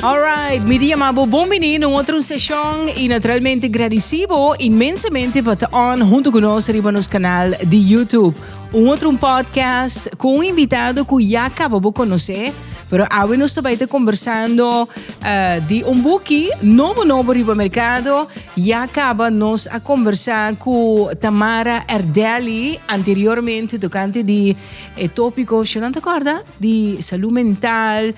Alright, mi dia mabo bon bini no otro sesión y naturalmente agradecibo inmensamente pa te on junto con nos riba nos canal de YouTube. Un otro podcast con un invitado cu ya acabo bo conocer, pero awe nos tabay te conversando uh, di un buki nobo nobo riba mercado. Ya acaba nos a conversa cu Tamara Erdeli anteriormente tocante di eh, tópico, si no te acorda? di salú mental,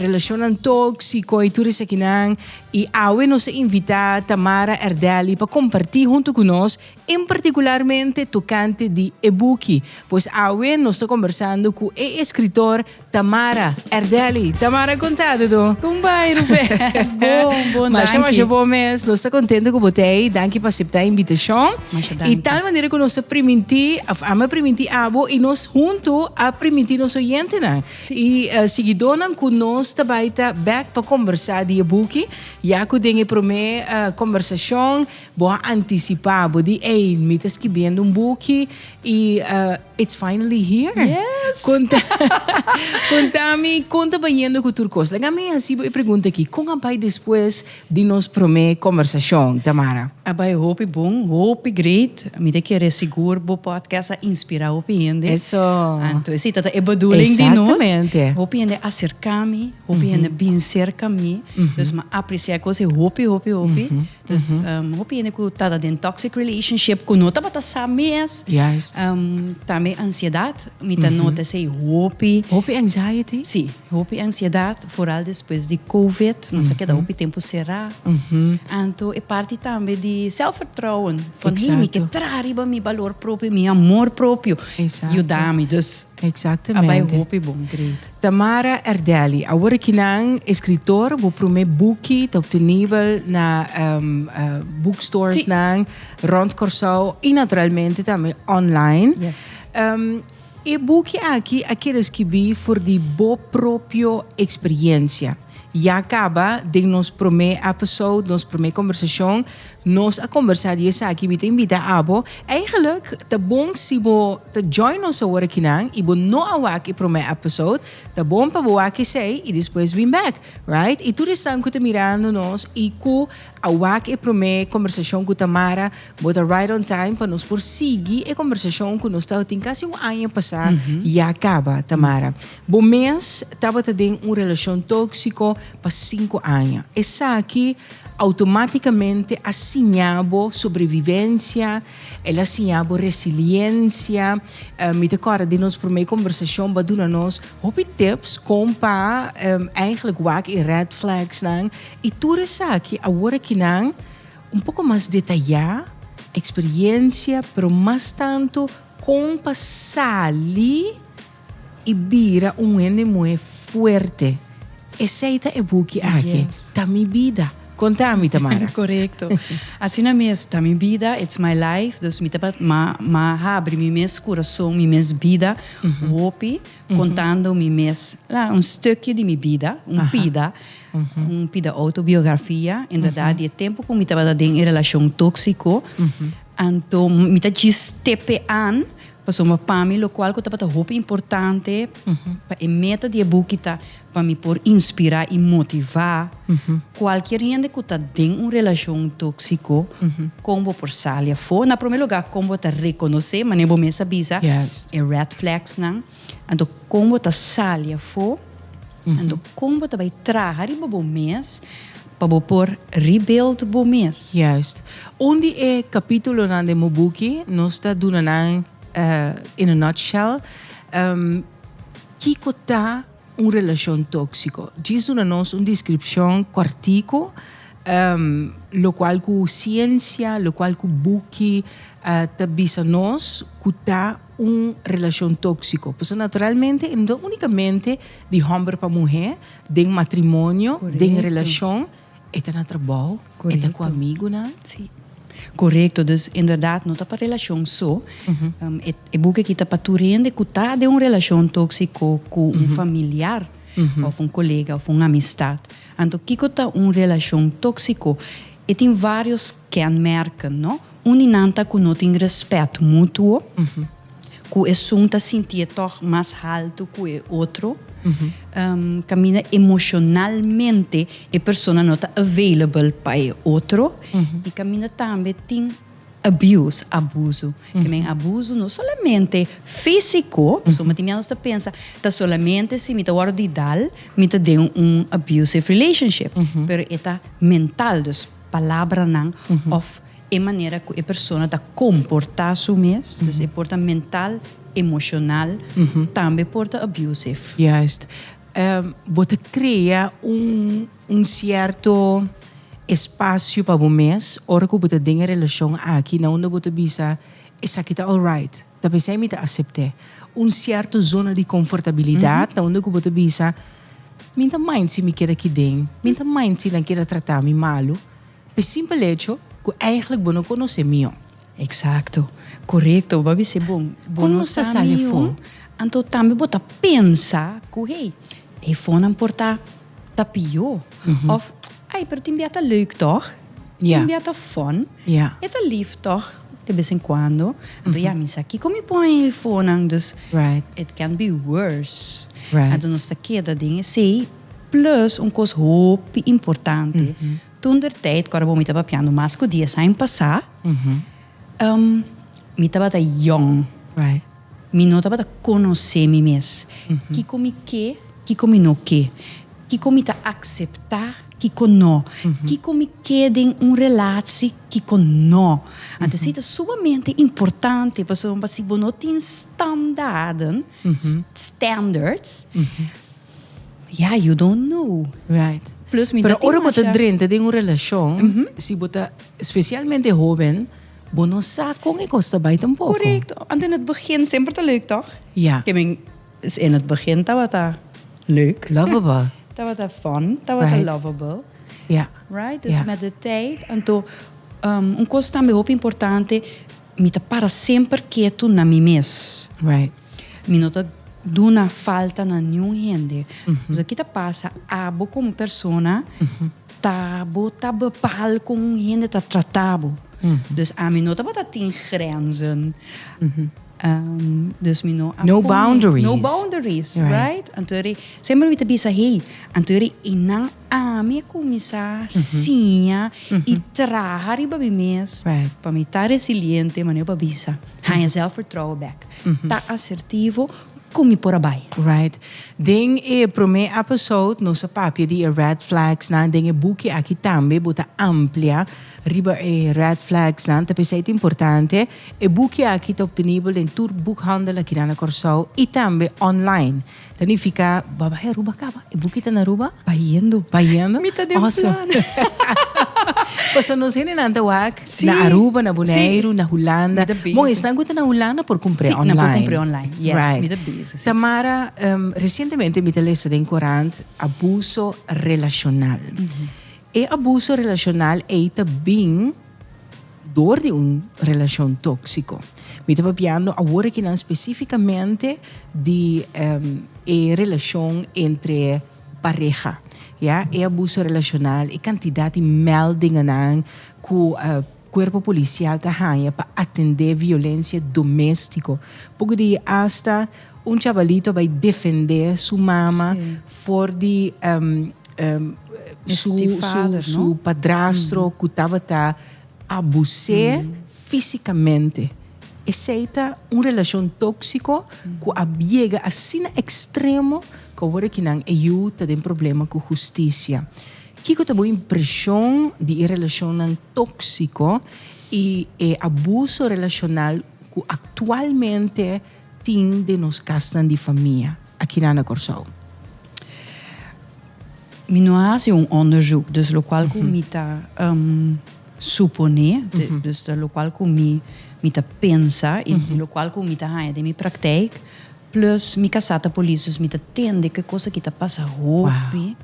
relashonnan tóksiko i tur esakinan. I awe nos a invitá Tamara Erdelli pa kompartí huntu ku nos en partikularmente tokante di e buki. Pues awe nos ta kombersando ku e eskritor Tamara Erdelli. Tamara, kontado do? Kon bai Rubén? Bon, bon danki. Masha masha bon mes. Nos ta kontento ku bo ta ei. Danki pa aseptá e invitashon. I tal manera ku nos ta primintí, ama primintí abo i nos huntu a primintí nos oyentenan i eh, siguidónan ku nos ta bai ta bèk pa kombersá di e buki, ya ku den e promé eh, kombersashon bo a antisipá, bo di ey, mi ta skibiendo un buki i eh, it's finally here. Yes. Konta, kontami kon ta bayendo ku tur kos. Laga mi hasibo e pregunta aki, kon a bai despues Di nos promé kombersashon, Tamara. A bai hopi bon, hopi great. Mi ta kere sigur bo podcast a inspirá hopi hende. Eso. Anto si ta ta e bedoeling di nos. Exactamente. Hopi hende acercá mi, hopi hende bin cerca mi. Dus m'a apreciá e cos'e hopi, hopi, hopi. Dus hopi hende cu tabata den toxic relationship cu no tabata sa mes. Juist. Tambe ansiedad, mi ta nota esei hopi. Hopi anxiety. Si. Hopi ansiedat, foral despues di covid, nos a keda hopi tempu será. Anto e parti tambe di selfvertrouwen, van hey mi ke traha riba mi balor propio, mi amor propio, yuda mi, dus a bai hopi bon. Great. Tamara Erdelli, awor aki nan escritor, bo prome buki ta obtenibel na bookstoresnan rond Corsou y naturalmente tambe online. E buki aki a kere skibí for di bo propio eksperiencia. Ya kaba den nos promé episode, nos promé kombersashon, nos a kombersá di esaki. Mi ta invitá abo, eigenlik ta bon si bo ta join nos awor akinan i bo no a wak e promé episode, ta bon pa bo wak esei i despues bin bèk, right? I tur esnan ku ta mirando nos i ku. A wak e promé kombersashon ku Tamara, bo ta right on time pa nos por sigui e kombersashon ku nos tabata tin kasi un aña pasá ya kaba. Tamara, Bo mes tabata den un relashon tóksiko pa sinku aña. Esaki outomátikamente a siñá bo sobrevivensia, el a siñá bo resiliensia. Mi ta kòrda di nos promé kombersashon bo a duna nos hopi tips kon pa èiglek wak e red flagsnan. I tur esaki awor aki nan un poko mas detayá, eksperiensia, pero mas tantu kon pa sali i bira un hende muhé fuerte. Esei ta e buki aki, Ta mi bida. Konta mi, Tamara. Korekto. Asina mes, Ta mi bida, It's my life. Dus mi ta ma habri mi mes kurason, mi mes bida, hopi kontando mi mes un stukio di mi bida, un pida. un pida autobiografia inderdat di e tempo ku mi tabata den e relashon tóksiko anto mi ta djis tepe an pasobra pa mi lokual ku tabata hopi importante pa e meta di e buki ta pa mi por inspirá i motivá kualkier hende ku ta den un relashon tóksiko kon bo por sali afó na promé lugá kon bo ta rekonosé manera bo mes a bisa e red flagsnan. Anto kon bo ta sali afó? Anto kon bo ta bai traha riba bo mes pa bo por rebuild bo mes? Juist. Un di e kapítulonan den bo buki nos ta duna nan in a nutshell kiko ta un relashon tóksiko. Djis duna nos un deskripshon kòrtiku lokual ku siensia, lokual ku buki ta bisa nos ku ta. un relashon tóksiko. Pasobra naturalmente e no ta únikamente di hòmber pa muhé, den matrimonio, den relashon, e ta na trabou, e ta ku amigunan. Sí, korekto. Dus inderdat no ta pa relashon so. E buk akí ta pa tur hende ku ta den un relashon tóksiko ku un familiar òf un kolega òf un amistat. Anto kiko ta un relashon tóksiko? E tin vários Kenmerken, no? Un di nan ta ku no tin rèspèt mutuo, ku esun ta sinti e tòg mas haltu ku e otro, kaminda emoshonalmente e persona no ta available pa e otro i kaminda tambe tin abuse, abuzu. Ke men abuzu no solamente físiko, pasobra mi tin mia nos ta pensa ta solamente si mi ta wòrdu di idal mi ta den un abusive relationship, pero e ta mental. Dus. palabranan òf e manera ku e persona ta komportá su mes. Dus e por ta mental, emoshonal, tambe por ta abusive. Juist. Bo ta krea un sierto espasio pa bo mes ora ku bo ta den e relashon aki na unda bo ta bisa, Esaki ta alright. Ta p'esei mi ta asept'é. Un sierto zona di confortabilidad ta unda cu bo ta bisa, Min ta mind si mi keda aki den? Min ta mind si nan keda trata mi malu? P'e simpel hecho cu eigenlijk bo no conoce mio. Exacto. Corecto. Bo a bis'é, Bon, bo no sa mio, anto tambe bo ta pensa cu hey, Hefonan por ta ta pio of ai pero tin bia ta leuk toch tin bia ta fun e ta lif toch de bes en cuando anto ya mi sa kico mi pon e hefonan dus it can be worse anto nos ta keda den esey plus un cos hopi importante toen der tijd cu mi ta papiando mas cu dies aña pasa mi tabata yong. Mi no tabata konosé mi mes. Kiko mi ke, kiko mi no ke. Kiko mi ta akseptá, kiko no. Kiko mi ke den un relatsi, kiko no. Anto esei ta sumamente importante pasobra pa si bo no tin standaden, standards, ya, you don't know. Right. Plus mi no tin masha. Pero ora bo ta drenta den un relashon, si bo ta, spesialmente hóben. Bo no sa kon e kos ta bai tampoko. Korekto. Anto in het begin semper ta leuk, tòg? Ja. Ke men s in het begin tabata leuk. Lovable. Tabata fun, tabata Right. lovable. Ja. Right? Dus Ja. met de tijd. Anto, ehm, un kos tambe hopi importante, mi ta para semper ketu na mi mes. Right. Mi no ta duna falta na niun hende. So, ki ta pasa? Abo komo persona. Ta bo ta bepaal con un hende ta trata bo. Dus ami no tabata tin grenzen. dus mi no a pone. No boundaries. No boundaries, right? Antori, semper mi ta bisa hey, antori eynan ami a cuminsa siña y traha riba mi mes pa mi ta resiliente, manera pa bisa. Haña zelfvertrouwen bek. Ta asertivo. Ku mi por a bai, right? Den e promé episode nos a papia di e red flagsnan. Den e buki aki tambe bo ta amplia riba e red flagsnan. Ta p'esei ta importante. E buki aki ta obtenibel den tur bukhandel aki nan na Kòrsou i tambe online. Ta nifiká bo a bai Aruba kaba? E buki ta na Aruba? Bayendo. Bayendo? Mi ta den plan. Awesome. Pasobra nos hendenan ta wak Na Aruba, na Boneiru, na Hulanda. Bon, esnan cu ta na Hulanda por cumpre online. Si, nan por cumpre online. Yes, mi ta busy, si. Tamara, recientemente mi ta lesa den corant abuso relacional. E abuso relacional ei ta bin door di un relacion toxico. Mi ta papiando awor aki nan specificamente di e relacion entre. pareha, ya, e abuso relacional, e cantidad di meldingennan cu cuerpo policial ta hanja pa atende violencia domestico. Poco di hasta un chabalito bai defende su mama for di su padrastro cu tabata abus'e fisicamente. Esei ta un relashon tóksiko ku a biega asina ekstremo ku awor aki nan e yu ta den problema ku hustisia. Kiko ta bo impreshon di e relashonnan tóksiko i e abuso relashonal ku aktualmente tin den nos kasnan di famia akinan na Kòrsou. Mi no a hasi un ònderzuk, dus lokual ku mi ta suponé, dus ta lokual ku mi mi ta pensa i di lokual ku mi ta haña den mi praktijk, plus mi kasá ta polis, dus mi ta tende ke kosa ki ta pasa hopi.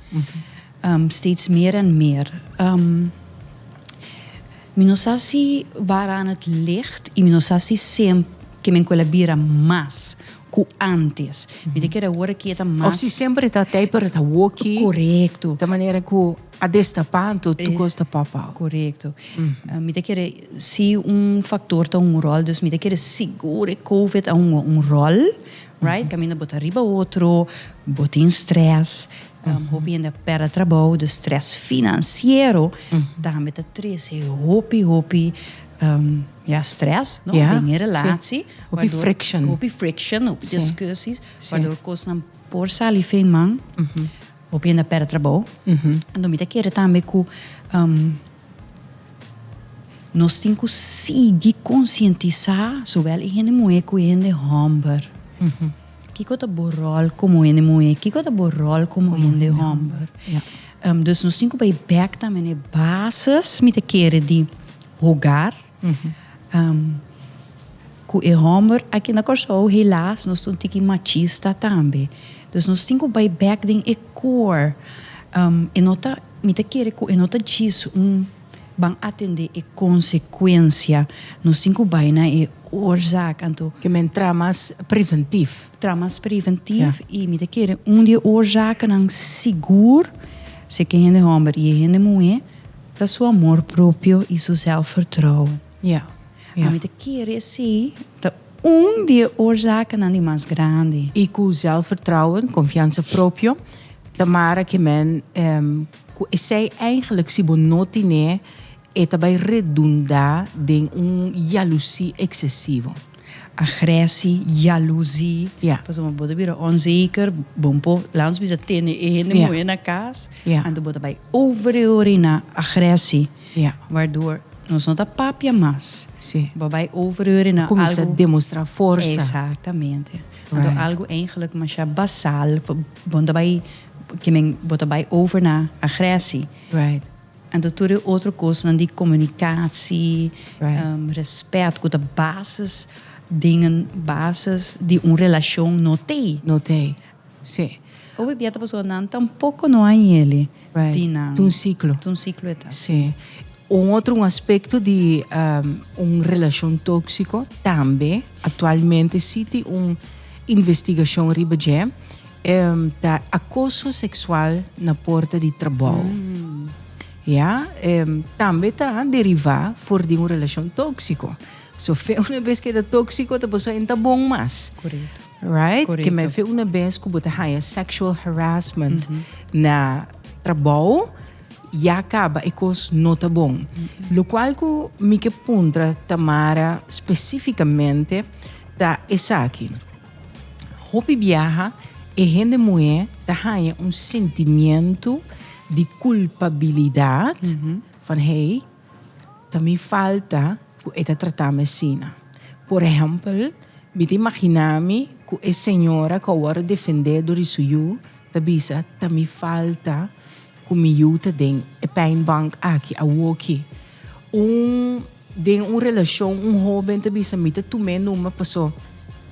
Steeds meer en meer. Mi no sa si waar aan het licht y mi no sa si sem ke men kual a bira mas ku antes. Mi ta kere awor a keta mas. Of si semper het a tei pero het a woki. Korekto. Ta manera ku a destapa anto tur kos ta pop out. Korekto. Mi ta kere si un faktor ta un rol dus mi ta kere sigur e covid a hunga un rol right kaminda bo ta riba otro bo tin stress. Hopi hende a perde trabou, dus stress financiero tambe ta trece hopi hopi ya stress no den e relatie. Hopi friction. Hopi friction, hopi discussies wador cosnan por sali fei man. Hopi hende a perde trabou. Enton mi ta kere tambe cu nos tin cu sigui concientisa zowel e hende muhe cu e hende homber. Kiko ta bo ròl komo hende muhé? Kiko ta bo ròl komo hende hòmber? Dus nos tin ku bai bèk tambe na e bases mi ta kere di hogar. Ku e hòmber, aki na Kòrsou helas nos ta un tiki machista tambe. Dus nos tin ku bai bèk den e kor. E no ta, mi ta kere ku e no ta djis un Ban atendé e konsekuensia. Nos tin ku bai na e oorzaak, anto. Ke men traha mas preventief. Traha mas preventief i mi ta kere un di e oorzakennan sigur, se ke hende hòmber i e hende muhé, ta su amor propio i su sèlfvertrouwen. Ya, ya. Mi ta kere esei ta un di e oorzakennan di mas grandi. I ku sèlfvertrouwen, konfiansa propio, ta mara ke men. Cu esey eigenlijk si bo no tine e ta bay redunda den un yalusi excesivo. Agresi, yalusi, Ya. pasobra bo ta bira onzeker, bo no por laga nos bisa tene e hende muhe na cas, Ya. anto bo ta bay overreorina agresi, Ya. waardoor nos no ta papia mas, Si. bo bay overreorina algo. Cuminsa demostra forsa. Exactamente. Anto Right. algo eigenlijk masha basal, bo no ta bay ke men bo ta bai over na agresi. Right. Anto tur e otro kosnan di komunikasi, right. um, respet, ku ta basis dingen, basis di un relashon no tei. No tei. Si. Obi bieta paso nan tampoco no hay yeli. Right. Di nan. Tun ciclo. Tun ciclo eta. Si. Un otro un aspecto di um, un relacion tóxico tambe actualmente si ti un investigacion riba je Ta acoso sexual na porta di trabao. Ya, tambe ta deriva for di un relacion toxico. So fe una bes keda toxico ta paso en ta bon mas. Correcto. Right? Correcto. Keme fe una bes cu bo ta haya sexual harassment na trabao, ya caba e cos no ta bon. Locual cu mi ke puntra Tamara specificamente ta esaki. Hopi biaha e hende muhé ta haña un sentimiento di culpabilidad van hey ta mi falta cu e ta tratami asina. Por ehempel mi ta imaginami cu e señora cu a worde defende dor di su yu ta bisa ta mi falta Cu mi yu ta den e pijnbank aki awoki. Un den un relacion un hoben ta bisa mi ta tum'e numa paso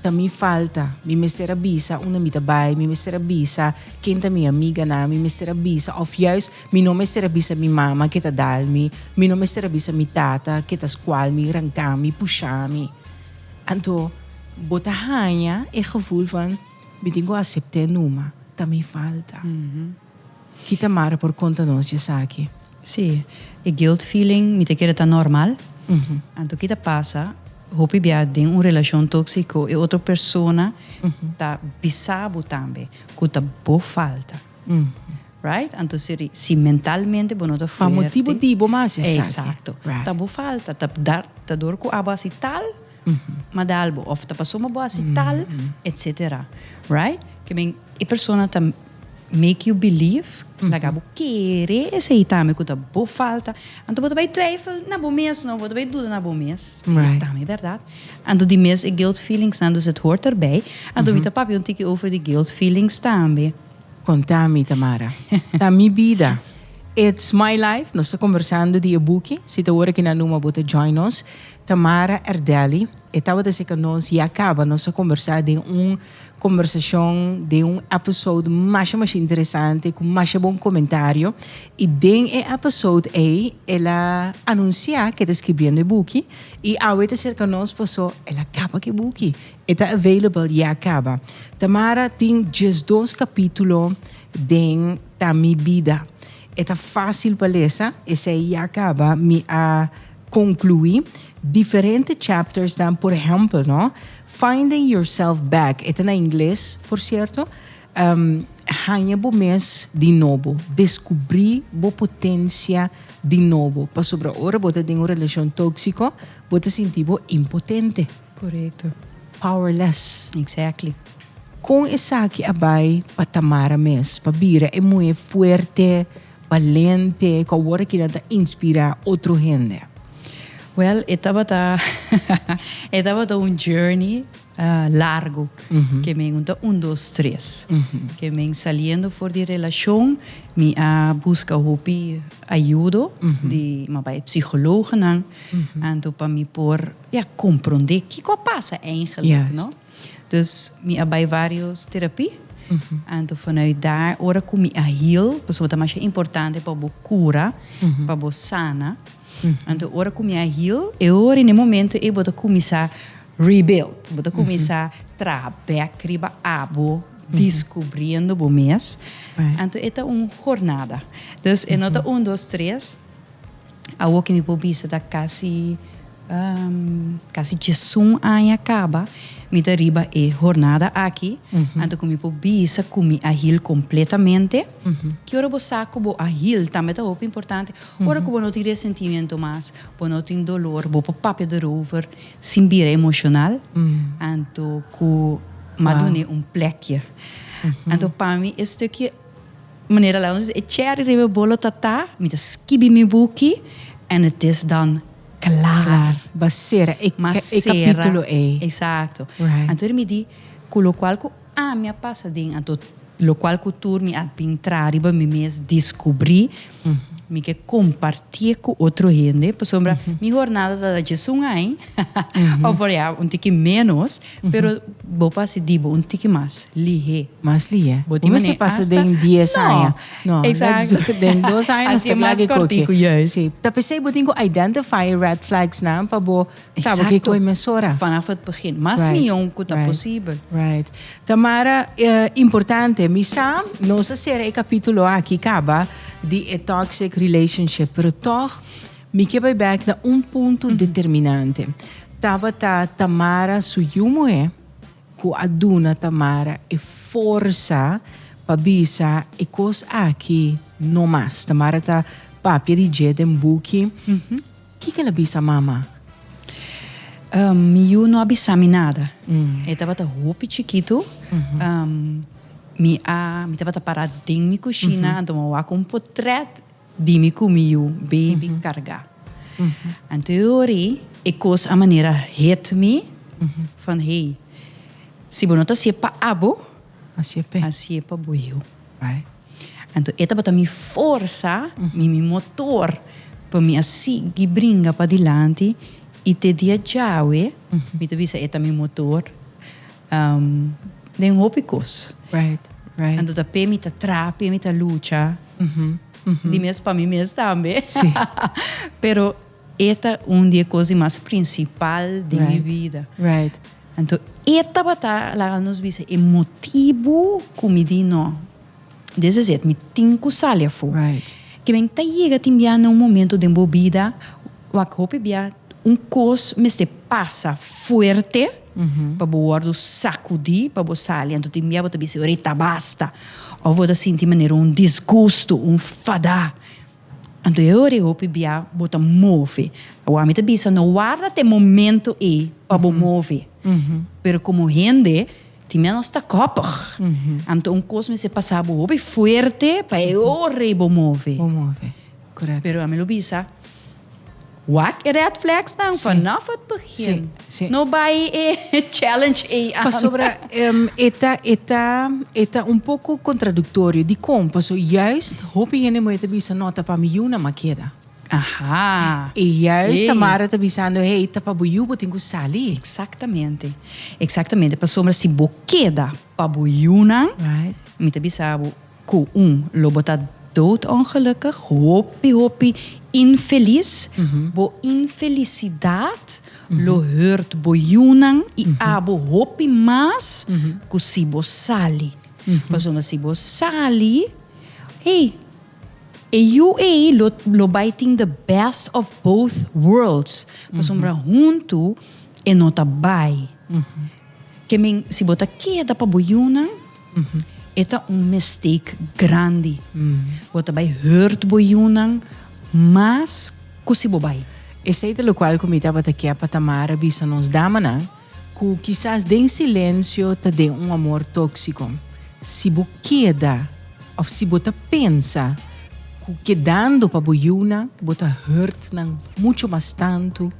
ta mi falta. Mi mester a bisa unda mi ta bay, mi mester a bisa ken ta mi amiganan, mi mester a bisa of juist mi no mester a bisa mi mama ke ta dal mi, mi no mester a bisa mi tata ke ta scual mi, ranca mi, pusha mi. Anto bo ta haña e gevoel van mi tin cu acept'e numa ta mi falta. Ki ta Mara por konta nos dje esaki? Sí, e guilt feeling, mi ta kere ta normal. Anto ki ta pasa, hopi bia den un relashon tóksiko e otro persona ta bisa bo tambe ku ta bo falta. Right? Anto si ri, si mentalmente bo no ta fuerte. Pa motibu di bo mas esaki. Exacto. Ta bo falta, ta dor ku abo hasi tal. Madalbo of ta pasobra bo hasi tal etc. Right? Ke men e persona ta make you believe, laga bo kere esei tambe ku ta bo falta. Anto bo ta bai twijfel na bo mes no, bo ta bai duda na bo mes. Right. Tambe berdad. Anto di mes e guilt feelings nan dus het hoort erbij. Anto mi ta papia un tiki over di guilt feelings tambe. Konta mi Tamara. Ta mi bida. It's my life. Nos ta kombersando di e buki. Si ta ora ki nan numa bo ta join nos. Tamara Erdelli e tabata seka nos ya kaba nos a kombersá den un kombersashon den un èpesode masha masha interesante ku masha bon komentario i den e èpesode ei el a anunsiá ku e ta skribiendo e buki i awe e ta serka nos pasó el a kaba ku e buki e ta available ya kaba Tamara tin diesdos kapítulo den Ta mi bida. E ta fásil pa lesa, esei ya kaba mi a konkluí diferente chaptersnan, por ehèmpel no, Finding Yourself Back, e ta na ingles, por sierto, Haña bo mes di nobo, deskubrí bo potensia di nobo, pasobra ora bo ta den un relashon tóksiko bo ta sinti bo impotente. Corecto. Powerless. Exactly. Con esaki a bay pa Tamara mes, pa bira e muhe fuerte, balente, cu awor aki nan ta inspira otro hende? Well, e tabata e tabata un journey largo, ke men no ta un, dos, tres. Ke men saliendo for di relacion, mi a busca hopi ayudo di, mi a bay psychologonan, anto pa mi por. Mi a comprende kico a pasa eigenlijk, no? Dus mi a bay varios terapie, anto vanuit daar, ora cu mi a heal, pasobra ta masha importante pa bo cura, pa bo sana, anto ora cu mi a heal, e ora y na e momento ey bo ta cuminsa rebuild, bo ta cuminsa traha bek riba abo, descubriendo bo mes, anto e ta un hornada, dus e no ta un, dos, tres. Awo ke mi por bisa ta kasi kasi diesun aña kaba mi ta riba e hornada aki, anto ku mi por bisa ku mi a hil kompletamente. Ki ora bo sa ku bo a hil tambe ta hopi importante. Ora ku bo no tin resentimentu mas, bo no tin dolor, bo por papia derover sin bira emoshonal, anto ku madune un plèkje. Anto pa mi e stukje. Manera la nos e cherry riba e bolo ta ta, mi ta skibi mi buki en het is dan klaar. Ba sera e kapitulo ei. Exacto. Anto mi di, ku lokual ku ami a pasa den, anto lokual ku tur mi a bin traha riba mi mes, diskubri, mi ke kompartié ku otro hende. Pasobra mi hornada ta dje sungai. Of por ya un tiki menos, pero bo por hasi dibo un tiki mas lihé. Mas lihé. Bo tin manera hasta. Bo no mester pasa den dies aña. No. No. Exacto. Let's do den dos aña nos ta klar di koke. Hasi e mas kòrtiku, juist. Sí. Ta p'esei bo tin ku identify e red flagsnan pa bo kaba ku e koe mesora. Exacto. Vanaf het begin. Mas mion ku ta posibel. Right. Tamara, importante. Mi sa nos a sera e kapítulo aki kaba di e toxic relationship, pero tòg, Mi ke bai bek na un punto determinante. Tabata Tamara su yu muhé ku a duna Tamara e forsa pa bisa e kos aki no mas. Tamara ta papia di dje den buki. Kiko el a bisa mama? Mi yu no a bisa mi nada. E tabata hopi chikitu. Mi a, mi tabata para den mi kushina anto mi a wak un potrèt. Di mi cu mi yu baby carga. Anto yo ori e cos a manera hit mi van hey si bo no ta haci'e pa abo haci'e pa bo yu. Anto e tabata mi forsa mi mi motor pa mi a sigui bringa padilanti y te dia djawe mi ta bisa e ta mi motor. den hopi kos. Anto ta p'e mi ta tra, p'e mi ta lucha. Di mes pa mi mes tambe. Pero e ta un di e kos di mas prinsipal den mi bida. Anto e tabata laga nos bisa e motibu ku mi di no. Des is it, mi tin ku sali afó. Kiben ta yega tin bia na un momentu den bo bida wak hopi bia un kos mester pasa fuerte. pa bo wòrdu sakudí pa bo sali anto tin bia bo ta bisa ahorita ta basta òf bo ta sinti manera un disgustu un fadá anto e ora ei hopi bia bo ta move awor mi ta bisa no warda ta e momento ei pa bo move pero komo hende tin bia nos ta kòpig anto un kos mester pasa bo hopi fuerte pa e ora ei bo move pero ami lo bisa. Wak e red flagsnan vanof het begin. No bay e challenge ey aan. Pasobra e ta un poco contraductorio. Dicon? Paso juist hopi hende moe ta bisa no ta pa mi yu nama keda. Y juist Tamara ta bisando hey ta pa bo yu bo tin cu sali. Exactamente. Exactamente. Pasobra si bo keda pa bo yunan mi ta bisa abo. Ku un lo bo ta dood ongelukig, hopi hopi infelis, bo infelisidat lo hurt bo yunan i abo hopi mas ku si bo sali. Pasobra si bo sali, hey, e yu ei lo lo bai tin the best of both worlds, pasobra huntu e no ta bai. Ke men si bo ta keda pa bo yunan. E ta un mistake grandi. Bo ta bai hurt bo yunan mas ku si bo bai. Esei ta lokual ku mi tabata kia pa Tamara bisa nos damanan ku kisas den silensio ta den un amor tóksiko. Si bo keda òf si bo ta pensa ku kedando pa bo yunan bo ta hurt nan muchu mas tantu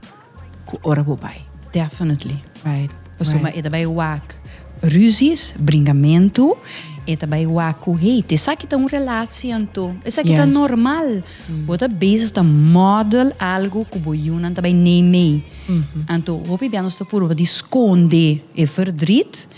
ku ora bo bai. Definitely right paso e ta bai wak ruzies bringamentu e ta bai wak ku hate esaki ta un relatie anto esaki ta normal bo ta bezig ta model algo ku bo yunan ta bai nee mee anto hopi bia nos ta purba di skonde e verdrit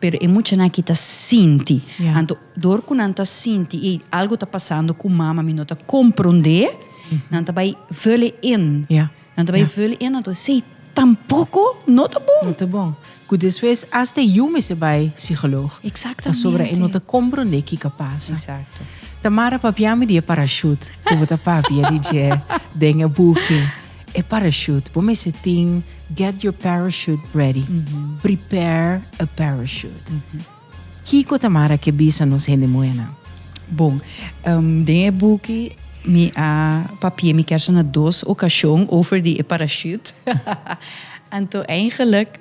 pero e muchanan aki ta sinti anto dor ku nan ta sinti ey algo ta pasando ku mama mi no ta kompronde. Nan ta bai vullen in. Ja. Nan ta bai vullen in, anto esei tampoco no ta bon. No ta bon. Cu despues hasta yu mester bai psicoloog. Exactamente. Pasobra e no ta compronde kico pasa. Exacto. Tamara, papia mi di e parachute cu bo ta papia di dje den e buki. E parachute, bo mester tin get your parachute ready. Prepare a parachute. Kiko ta mara ke bisa nos hende muhénan? Bon, den e buki mi a papié mi kèrsha na dos okashon over di e parashüt, anto eingelik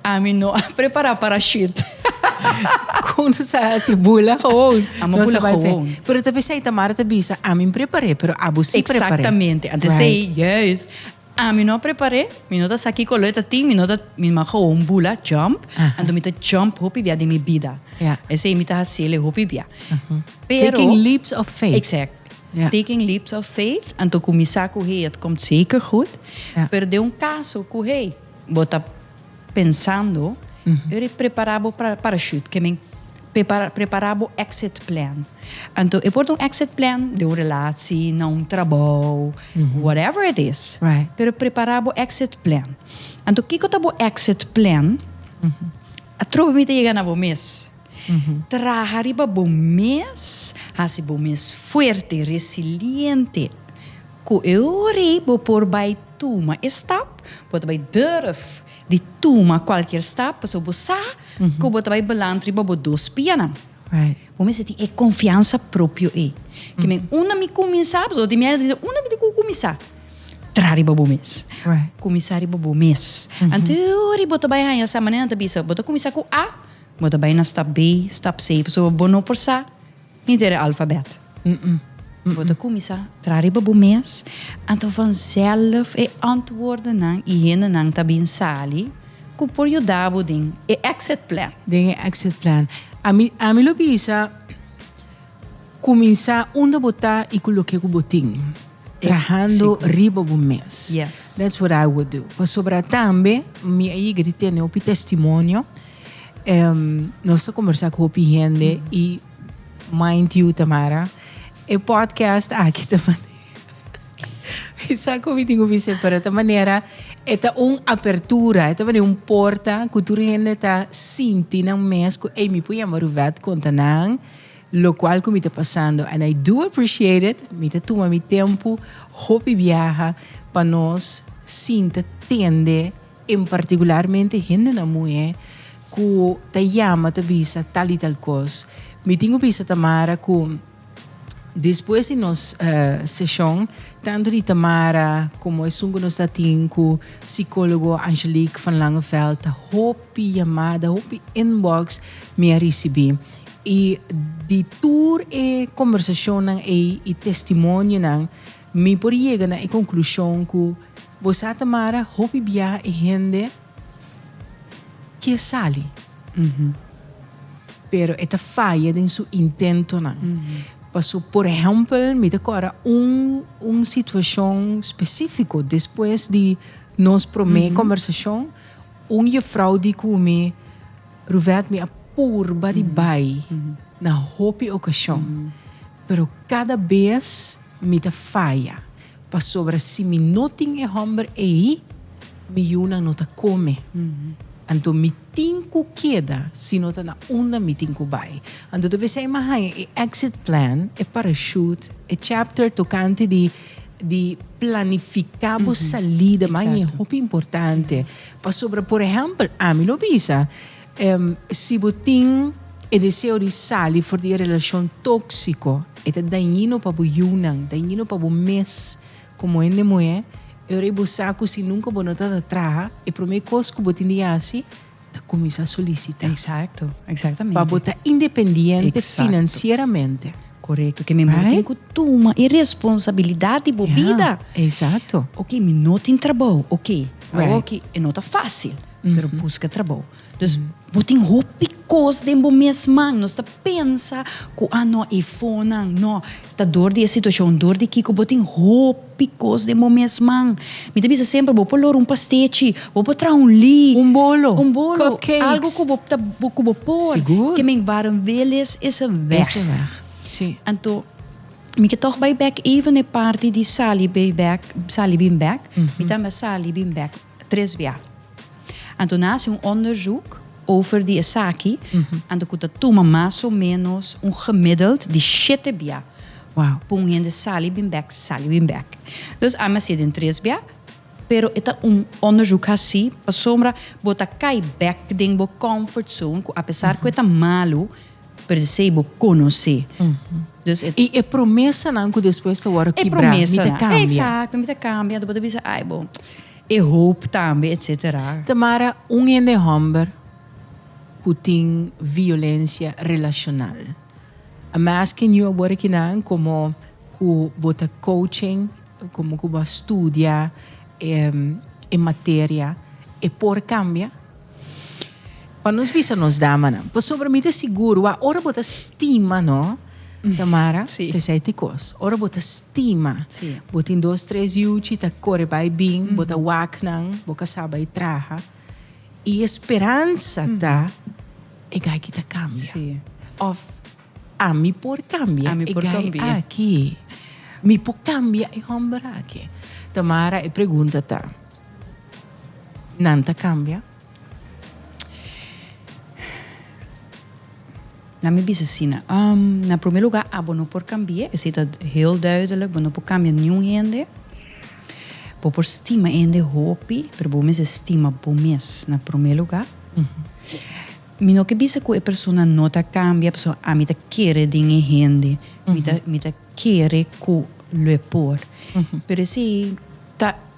ami no a prepará parashüt. Kon nos a hasi? Bula gewoon. Amo bula gewoon. Pero ta p'esei Tamara ta bisa, ami m'prepar'é, pero abo sí prepar'é. Exactamente. Ante esei, juist. Ah mi no prepar'é, mi no ta sa kiko lo e ta tin, mi no ta, mi nomás gowo un bula, jump, anto mi ta jump hopi bia den mi bida. Ya. Esei mi ta haciele hopi bia. Pero. Taking leaps of faith. Exact. Ja. Taking leaps of faith, anto ku mi sa ku hey, et komt zeker goed. Ja. Pero den un kaso ku hey, bo ta. Pensando, yu di prepara bo parachute, ke men, prepara bo exit plan. Anto e por ta un exit plan den un relaci, na un trabou, whatever it is. Pero prepara bo exit plan. Anto kiko ta bo exit plan? Atrobe mi ta yega na bo mes. Traha riba bo mes, hasi bo mes fuerte, resiliente, ku e ora ei bo por bai tuma e stap, bo ta bai durf di tuma kualkier stap, pasobra bo sa ku bo ta bai balant riba bo dos pianan. Bo mester tin e konfiansa propio ei. Ke men, unda mi kuminsá, pasobra tin mihai na ta bisa, unda mi tin ku kuminsá? Traha riba bo mes. Kuminsá riba bo mes. Anto e ora ei bo ta bai haña sa, manera nan ta bisa, bo ta kuminsá ku a. Bo ta bai na stap B, stap C, pasobra bo no por sa ni dere alfabèt. Bo ta kuminsá traha riba bo mes, anto vanzèlf e antwòrdennan i hendenan ta bin sali ku por yuda bo den e exit plan. Den e exit plan. Ami, ami lo bisa. Cuminsa unda bo ta y cu loke cu bo tin. Trahando riba bo mes. That's what I would do. Pasobra tambe mi a yiga di tene hopi testimonio. Nos ta combersa cu hopi hende y mind you Tamara, e podcast aki ta manera mi sa cu mi tin cu bis'e pero ta manera e ta un apertura, e ta manera un porta cu tur hende ta sinti nan mes cu ey mi por yama Ruvet conta nan. Locual cu mi ta pasando and I do appreciate it, mi ta tuma mi tempo hopi biaha pa nos sinta tende en particularmente hendenan muhe cu ta yama ta bisa tal y tal cos. Mi tin cu bisa Tamara cu despues di nos seshon tanto di Tamara como esun cu nos ta tin cu psicologo Angelique van Langeveld hopi yamada hopi inbox mi a ricibi. I di tur e kombersashonnan ei i testimonionan, mi por yega na e konklushon ku bo sa ta mara hopi biaha e hende ke sali, pero e ta faya den su intentonan. Paso, por ehèmpel, mi ta kòrda un un situashon spesífiko. Despues di nos promé kombersashon, un yefrou di ku mi, Ruvet, mi a purba di bai na hopi okashon, pero kada bes mi ta faya, pasobra si mi no tin e hòmber ei, mi yunan no ta kome. Anto mi tin ku keda si no ta na unda mi tin ku bai. Anto ta bes ei mi a haña e exit plan, e parachute, e chapter tokante di di planifiká bo salida. Mi a haña hopi importante, Pasobra por ehèmpel, ami lo bisa, si bo tin e deseo di sali for di e relashon tóksiko, e ta dañino pa bo yunan, dañino pa bo mes komo hende muhé. E ora bo sa ku si nunka bo no ta ta traha, e promé kos ku bo tin di hasi ta kuminsá solisitá. Eksakto, eksaktamente. Pa bo ta independiente finansieramente. Korekto, ke men bo tin ku tuma e responsabilidat di bo bida. Ja, eksakto. Oke, mi no tin trabou, oke. Awoki e no ta fácil, pero buska trabou. Dus bo tin hopi kos den bo mes man. Nos ta pensa ku a no e fonan, no, ta dor di e situashon, dor di kiko, bo tin hopi kos den bo mes man. Mi ta bisa semper bo por lor un pastechi, bo por traha un lí, un bolo, algu ku bo ta ku bo por, ke men Baron Willys is e wèg. Anto. Mi ke tog bai bek even e parti di sali bai bek, sali bin bek. Mi tambe a sali bin bek tres bia. Anto nan a hasi un onderzoek over di esaki, anto ku ta tuma mas o menos un gemiddeld di shete bia pa un hende sali bin bek, sali bin bek. Dus ami a hasi den tres bia, pero e ta un onderzoek hasi pasobra bo ta kai bek den bo comfort zone, ku apesar ku e ta malu, per se bo conoce. Dus e. Y e promesanan cu despues ta worde kibra, mi ta cambia. Exacto, mi ta cambia, anto bo ta bisa ay bo, e hoop tambe, etcetera. Tamara, un hende homber cu tin violencia relacional, I'm asking you awor akinan como cu bo ta coaching, como cu bo a studia e materia, e por cambia? Pa nos bisa nos damanan. Pasobra mi ta sigur wak ora bo ta stima, no, Tamara? Sí. Te esei ti kos. Ora bo ta stima, Sí. bo tin dos, tres yuchi, ta kore bai bin, bo ta wak nan, bo kasá bai traha. I e speransa ta e gai ki ta kambia. Sí. Of ami por kambia Ami e por gai kambia. aki. Mi por kambia e hòmber aki. Tamara, e pregunta ta. Nan ta cambia. Nan mi bisa asina. Um, na primer lugar, abo no por cambia. Esi ta heel duidelijk. Bo no por cambia niun hende. Bo por stima hende hopi, pero bo mester stima bo mes na primer lugar. Mi no ke bisa ku e persona no ta cambia, pasobra ami ta kere den e hende. Mi ta, mi ta kere ku lo e por. Pero esi ta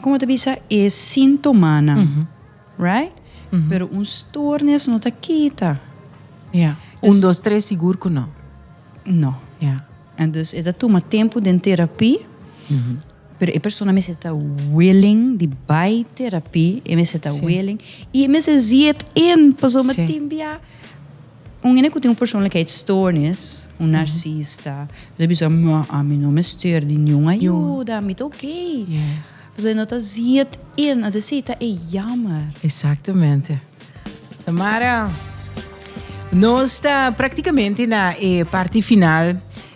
como te bisa e sintomanan mm -hmm. right mm -hmm. pero un stoornis no ta kita ja yeah. dus, un dos tres sigur ku no no ja yeah. en dus eta tuma tempo den terapie mm -hmm. pero e persona mese ta willing di bai terapie e mese ta sí. willing e mese ziet in paso sí. matimbia Un hende ku tin un persoonlijkheidsstoornis, un narsista, lo ta bisa, Ma, ami no mester di niun ayuda, mi ta okei. Pasobra e no ta ziet in, a desi, ta e yammer. Exactamente. Tamara, nos ta practicamente na e parti final.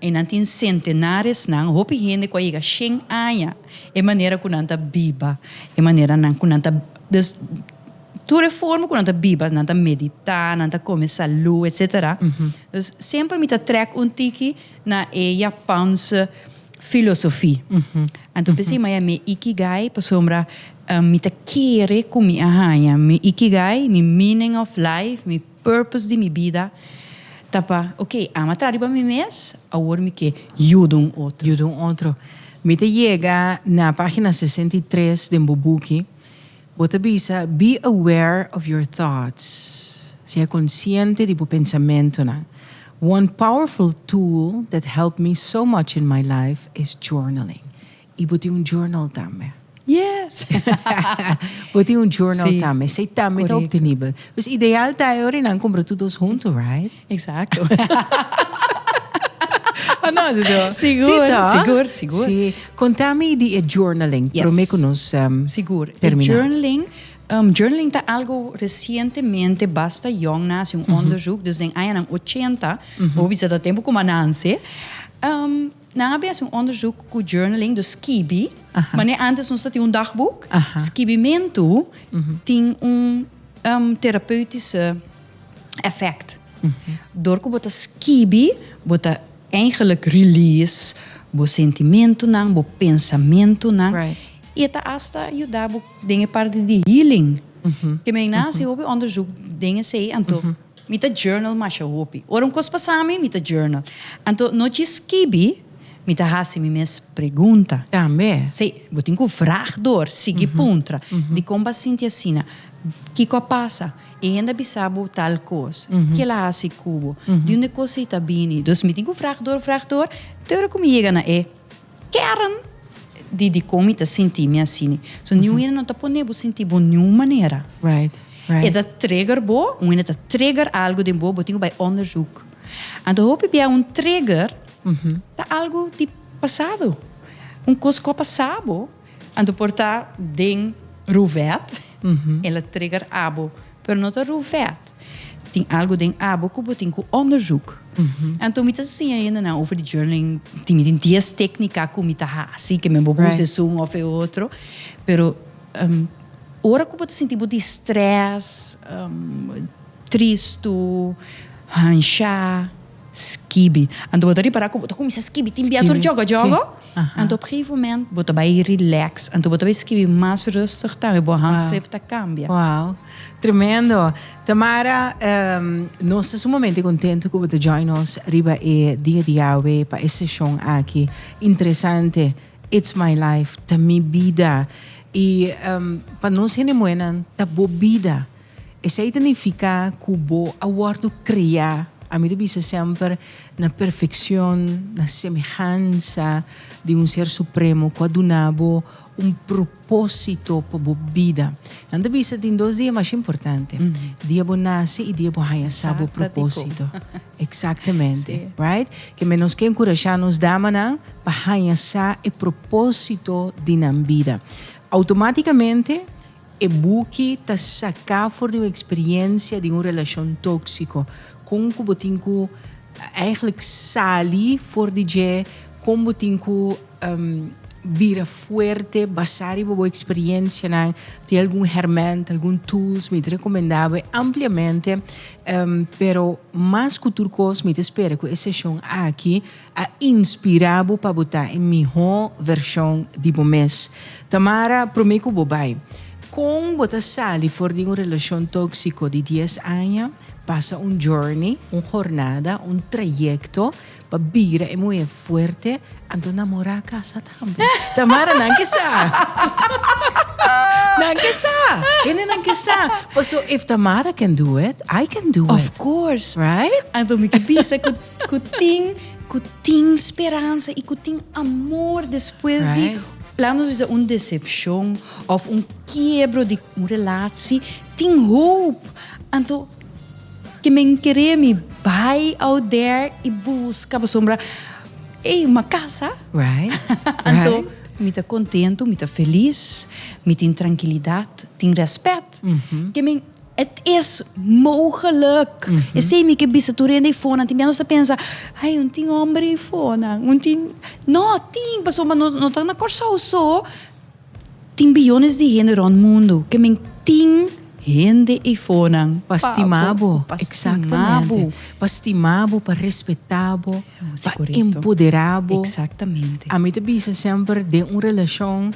E nan tin sentenaresnan, hopi hende ku a yega shen aña, e manera ku nan ta biba, e manera nan ku nan ta, dus tur e forma ku nan ta biba, nan ta meditá, nan ta kome salú, etsetera. Dus semper mi ta trèk un tiki na e yapanse filosofi. Anto p'esei mi a haña mi e ikigai pasobra mi ta kere ku mi a haña mi ikigai, mi meaning of life, mi. Purpose di mi bida ta pa, ok, ama a traha riba mi mes, awor mi ke yuda un otro. Yuda un otro. Mi ta yega na pagina sesenta i tres den bo buki, bo ta bisa, Be aware of your thoughts, Sea konsiente di bo pensamentunan. One powerful tool that helped me so much in my life is journaling. Y bo tin un journal tambe. Yes! Bo tin un journal tambe. Si. Esey tambe ta obtenibel. Correcto. Pues ideal ta e ora nan cumpra tur dos hunto, right? Exacto. O no, Dodo? Sigur. Si toh? Sigur, sigur. Si. Conta mi di e journaling. Yes. Prome cu nos termina. Sigur. E journaling, journaling ta algo recientemente basta yong. Nan haci un onderzoek, dus den añanan ochenta, bo bisa ta tempo cu mananse. Nan a bin hasi un onderzoek ku journaling, dus skibi. Manera antes nos ta tin un dagboek, skibimentu tin un terapeutiese efekt. Dor ku bo ta skibi, bo ta eigenlik release bo sentimentunan, bo pensamentunan. I e ta asta yuda bo den e parti di healing. Ke men a hasi hopi onderzoek den esei, anto. Mi ta journal masha hopi. Ora un kos pasa mi, mi ta journal. Anto no dje skibi, mi ta hasi mi mes pregunta. Tambe? Sí, bo tin ku vrag dor sigui puntra. Dikon bo a sinti asina? Kiko a pasa? E hende a bisa bo tal kos? Kel a hasi ku bo? Di un e kos ei ta bini? Dus mi tin ku vrag dor, vrag dor te ora ku mi yega na e. Keren di dikon mi ta sinti mi asini. So niun hende no ta pone bo sinti bo niun manera. E ta trigger bo, un hende ta trigger algu den bo, bo tin ku bai onderzoek. Anto hopi bia un trigger ta algu di pasado, un kos ku a pasa bo. Anto por ta den Ruvet el a trigger abo pero no ta Ruvet tin algo den abo cu bo tin cu onderzoek anto mi ta siña hende nan over di journaling tin mi tin dies tecnica cu mi ta haci que mi bo bo un season of e otro pero ora cu bo ta sinti bo di stress tristu hansha. Skibi. Anto bo ta ripará ku bo ta kuminsá skibi tin bia tur djogo djogo. Anto op gegeven moment bo ta bai rilèks. Anto bo ta bai skibi mas rustig tambe. Bo handskrif ta kambia. Wou. Tremendo. Tamara, nos ta sumamente kontentu ku bo ta join nos riba e Dia di Yawe pa e seshon aki interesante, It's My Life, Ta Mi Bida. I pa nos hende muhénan ta bo bida. Esei ta nifiká ku bo a wòrdu kreá, ami ta bisa semper, na perfekshon, na semehansa di un Ser Supremo ku a duna bo un propósito pa bo bida. Nan ta bisa tin dos dia mas importante, dia bo nase i dia bo haña sa bo propósito. Eksaktamente. Right? Ke men nos ke enkurashá nos damanan pa haña sa e propósito di nan bida. Outomátikamente E buki ta saká for di un eksperiencia di un relashon tóksiko. Kon ku bo tin ku eigentlik sali for di dje? Kon bo tin ku bira fuerte basá riba bo eksperiencianan? Tin algun hermènt, algun tools mi ta rekomendá bo ampliamente, pero mas ku tur kos mi ta spera ku e seshon aki A inspirá bo pa bo ta e mihó vershon di bo mes. Tamara, promé ku bo bai, kon bo ta sali for di un relashon tóksiko di dies aña? Pasa un journey, un hornada, un trayekto pa bira e muhé fuerte, anto namorá a kasa tambe. Tamara, Nan ke sa. Nan ke sa. Hendenan ke sa. Paso if Tamara can do it, I can do it. Of course. Right? Anto mi ke bisa ku. Ku tin, ku tin speransa i ku tin amor despues di, laga nos bisa un desepshon òf un kiebro di un relatsi, tin hoop. Anto ke men kere mi bai out there i buska pasobra ei un kasa. Anto mi ta kontentu, mi ta felis, mi tin trankilidat, tin rèspèt ke men. Het is mogelijk. Esei mi ke bisa tur hende ifonan tin bia nos ta pensa, ai un tin homber ifonan, un tin, no tin pasobra ma no ta na Kòrsou so, tin biyones di hende rònt mundu ke men tin hende ifonan pa stima bo, pa stima bo, pa stima bo, pa respetá bo, pa empoderá bo. Ami ta bisa semper den un relashon.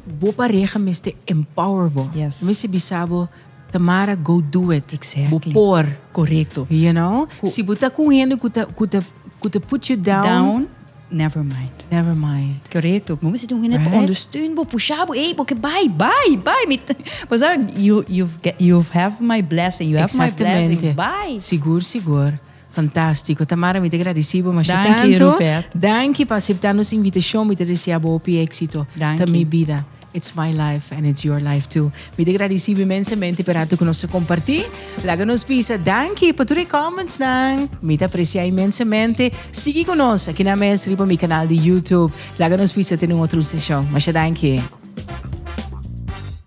Bo pareha mester empower bo. Yes. Bo mester bisa bo, Tamara go do it. Exactly. Bo por. Correcto. You know? Cu. Si bo ta cu un hende cu ta, cu ta, cu ta put you down. Down, never mind. Never mind. Correcto. Bo mester tin un hende right? pa ondersteun bo, pusha bo, ey bo ke bay, bay, bay. Mi ta, pasobra you, you've get, you've have my blessing, you have my blessing, bay. Exactamente. Sigur, sigur. Fantastico Tamara mi ta gradeci bo masha tanto danki pa acepta nos invitacion mi ta desea bo hopi exito ta mi bida it's my life and it's your life too mi ta gradeci bo inmensamente pa e rato cu nos a comparti laga nos bisa danki pa tur e comments nan mi ta aprecia inmensamente sigui cu nos aki nan mes riba mi canal di YouTube laga nos bisa tene un otro session masha danki.